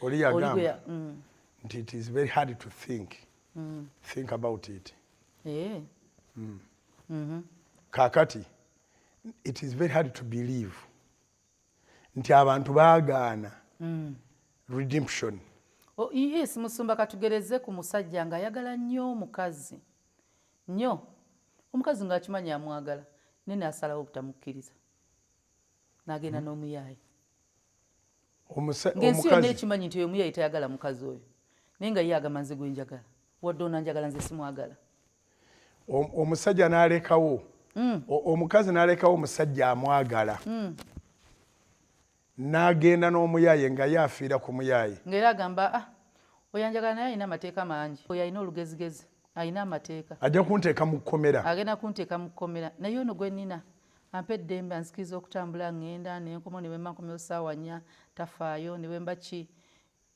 oli yagamba mm. nti it is very hard to think mm. think about it eh. mm. mm -hmm. kakati it is very hard to believe nti abantu bagaana mm. redemption oh, yes musumba katugereze ku musajja nga ayagala nnyo omukazi nnyo omukazi ngaakimanyi amwagala naye naasalawo obutamukkiriza nagenda mm. n'omuyaayi ngensi yonna ekimanyi nti oyomu yali tayagala mukazi oyo naye nga ye agamba nze gwenjagala wadde ona njagala nze simwagala omusajja nalekawo mm. omukazi nalekawo omusajja amwagala mm. nagenda n'omuyaye nga ye afiira ku muyaye ngaera agamba ah, oyo anjagala naye alina amateeka mangi oyo alina olugezigezi alina amateeka ajja kunteeka mu kkomera agenda kunteeka mu kkomera naye ono gwenina Ampa eddembe, anzikiriza okutambula, ngenda nenkomawo ne bwemba nkomyewo saawa nnya tafaayo, ne bwemba ki,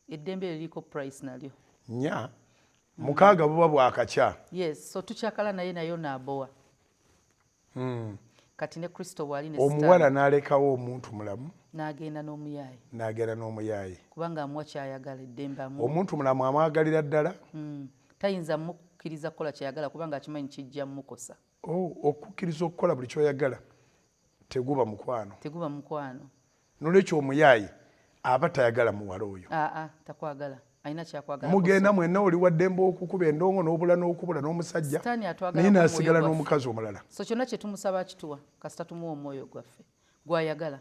eddembe eryo liriko price nalyo. Nnya? Mukaaga buba bwakakya. Yes, so tukyakala naye naye ono abowa. Hmm. Kati ne Kristo bwali ne sitaani. Omuwala nalekawo omuntu mulamu. Nagenda n'omuyaaye. Nagenda n'omuyaaye. Kubanga amuwa kyayagala eddembe amuwa. Omuntu mulamu amwagalira ddala. Hmm. Tayinza mukkiriza kukola kyayagala kubanga akimanyi kijja mukosa. Oh, okukkiriza okukola buli kyoyagala teguba mukwano, teguba mukwano. Nolwekyo omuyaaye aba tayagala muwala oyo, aa takwagala alina kyakwagala. Mugenda mwenna oli waddembe okukuba endongo n'obula n'okubula n'omusajja naye nasigala n'omukazi omulala. So kyonna kyetumusaba akituwa kasita tumuwa omwoyo gwaffe gwayagala.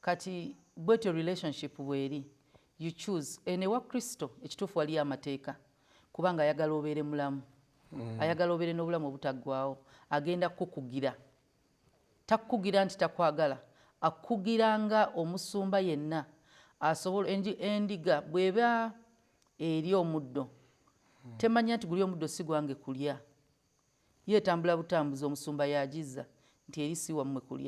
Kati bwetyo relationship bweri you choose eno ewa Kristo ekituufu waliyo amateeka kubanga ayagala obeere mulamu mm. ayagala obeere n'obulamu obutaggwawo agenda kukukugira takukugira nti takwagala akukugira nga omusumba yenna asobola endiga bweba eri omuddo mm. temanya nti guli omuddo si gwange kulya yeetambula butambuzi omusumba yagiza nti eri si wammwe kulya